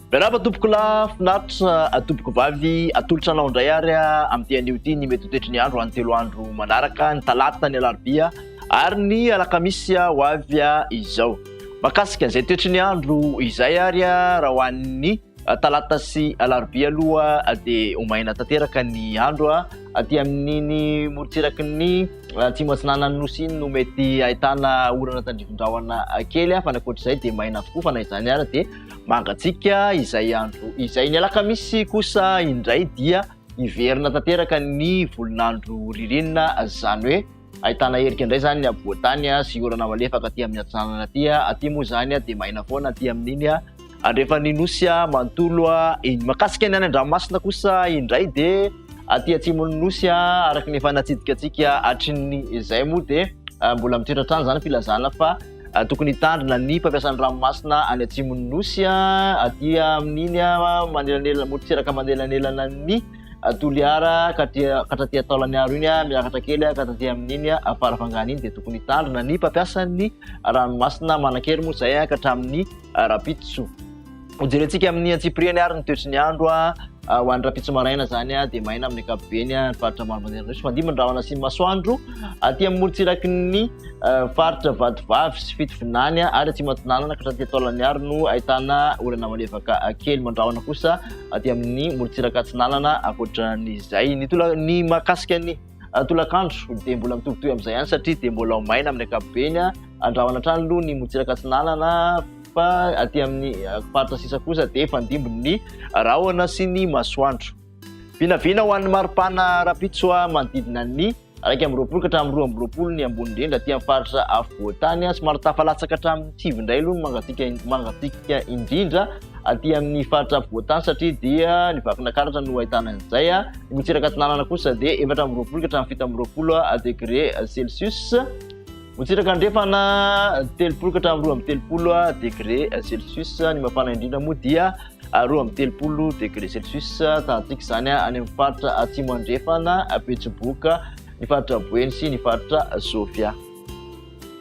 Miarahaba tompoko lahy, finaritra atompoko vavy, atolotra anao indray ary amin'ity anio ity ny mety toetry ny andro any telo andro manaraka, ny talata, ny alarobia ary ny alakamisy ho avy izao. Makasika izay toetry ny andro izay ary raha ho an'ny Talata sy Alarobia aloha dia ho maina tanteraka ny andro aty amin'iny morontsiraky ny atsimo atsinanan'ny nosy iny no mety ahitana orana tandrifin-drahona kely fa ny ankoatr'izay dia maina avokoa fa na izany ary dia mangatsiaka izay andro izay. Ny alakamisy kosa indray dia hiverina tanteraka ny volon'andro ririnina izany hoe. Ahitana herika indray izany ny afovoan-tany sy orana malefaka aty amin'ny atsinanana aty. Aty moa izany dia maina foana aty amin'iny andrefan'ny nosy manontolo iny. Mahakasika ny any an-dranomasina kosa indray dia aty atsimon'ny nosy araka ny efa natsidika antsika hatrin'ny izay moa dia mbola mitoetra hatrany izany filazana fa tokony hitandrina ny mpampiasa ny ranomasina any atsimon'ny nosy aty amin'iny manelanelana motosiraka manelanelana ny a Toliara ka aty katraty a Taolaniaro iny a miakatra kely a ka taty amin'iny a Farafangana iny dia tokony hitandrina ny mpampiasan'ny ranomasina manan-kery moa izay a ka hatramin'ny rapitso hojerentsika amin'ny antsipiriany ary ny toetry ny andro a ho an'ny rapitso maraina izany a dia maina amin'ny ankapobeny a ny faritra maro manderan'osy fandimby ny rahona sy ny masoandro aty amin'ny morontsiraky ny faritra vatovavy sy fitovinany a ary atsimo antinanana ka hatraty a Taolaniaro no ahitana orana malefaka kely mandrahona kosa aty amin'ny morontsiraka atsinanana ankoatra n'izay ny tola ny mahakasika ny ah, tolakandro dia mbola mitobitoy amin'izay ihany satria dia mbola maina amin'ny ankapobeny ah. andrahona hatrany aloha ny morontsiraka atsinanana fa aty amin'ny ah, faritra sisa kosa dia fandimbin'ny rahona sy ny masoandro vinavina ho an'ny maripana rapitsoa manodidina ny Iraika amby roapolo ka hatramin'ny roa amby roapolo ny ambony indrindra aty amin'ny faritra afovoan-tany. Somary tafalatsaka hatramin'ny sivy indray aloha ny mangatsiaka mangatsiaka indrindra aty amin'ny faritra afovoan-tany satria dia ny vakinankaratra no ahitana an'izay. Ny Motsiraka Atsinanana kosa dia efatra amby roapolo ka hatramin'ny fito amby roapolo degré Celsius. Motsitraka andrefana telopolo ka hatramin'ny roa amby telopolo degré celsius ny mafana indrindra moa dia roa amby telopolo degré celsius tantsika izany any amin'ny faritra atsimo andrefana betsiboka ny faritra boeny sy ny faritra sofia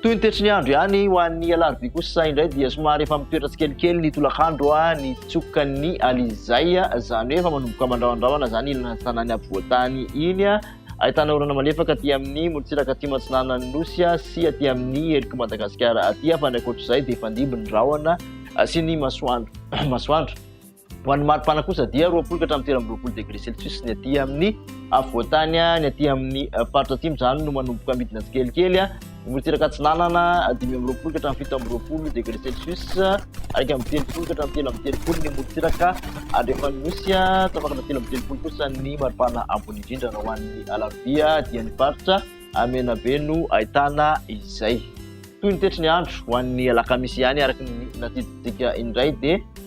toy ny tetry ny andro ihany ho an'ny alarobia kosa indray dia somary efa mitoetra tsikelikely ny tolakandro a ny tsokan'ny alizay izany hoe efa manomboka mandramandrahona izany ilana ny tanàny ampovoantany iny a Ahitana orana malefaka aty amin'ny morontsiraka aty matsinanan'ny nosy sy aty amin'ny heliky Madagasikara aty fa ny ankoatr'izay dia fandimby ny rahona sy ny masoandro. masoandro. Ho an'ny maripana kosa dia roapolo ka hatramin'ny telo amby roapolo degré celsius ny aty amin'ny afovoantany, ny aty amin'ny faritra atsimo izany no manomboka midina tsikelikely. Morotsiraka Atsinanana, dimy amby roapolo ka hatramin'ny fito amby roapolo degré Celsius, iraika amby telopolo ka hatramin'ny telo amby telopolo ny morotsiraka andrefan'ny nosy, tapakana telo amby telopolo kosa ny maripana ambony indrindra raha ho an'ny alarobia dia ny faritra Menabe no ahitana izay. Toy ny toetry ny andro ho an'ny alakamisy ihany araka ny natsidintsika indray dia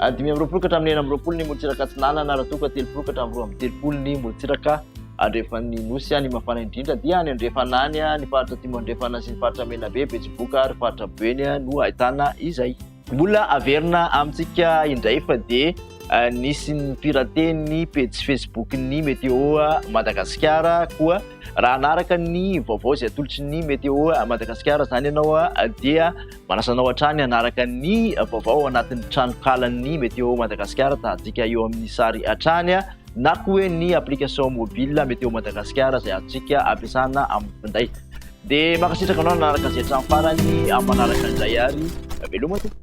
Ary dimy amby roapolo ka hatramin'ny enina amby roapolo ny morontsiraka atsinanana, raha toa ka telopolo ka hatramin'ny roa amby telopolo ny morontsiraka andrefan'ny Nosy. Ny mafana indrindra dia any andrefana any, ny faritra atimo andrefana sy ny faritra Menabe, Betsiboka ary faritra Beny no ahitana izay. Mbola averina amintsika indray fa dia nisy ny piraten'ny pejy Facebook-n'ny Météo Madagasikara koa. Raha hanaraka ny vaovao izay atolotry ny Météo Madagasikara izany ianao dia Manasa anao hatrany hanaraka ny vaovao ao anatin'ny tranonkalan'ny Météo Madagascar, ahitantsika eo amin'ny sary hatrany na koa hoe ny application mobile Météo Madagascar izay azontsika ampiasana amin'ny finday. Dia mankasitraka anao nanaraka izay hatramin'ny farany, amin'ny manaraka indray ary veloma tompoko.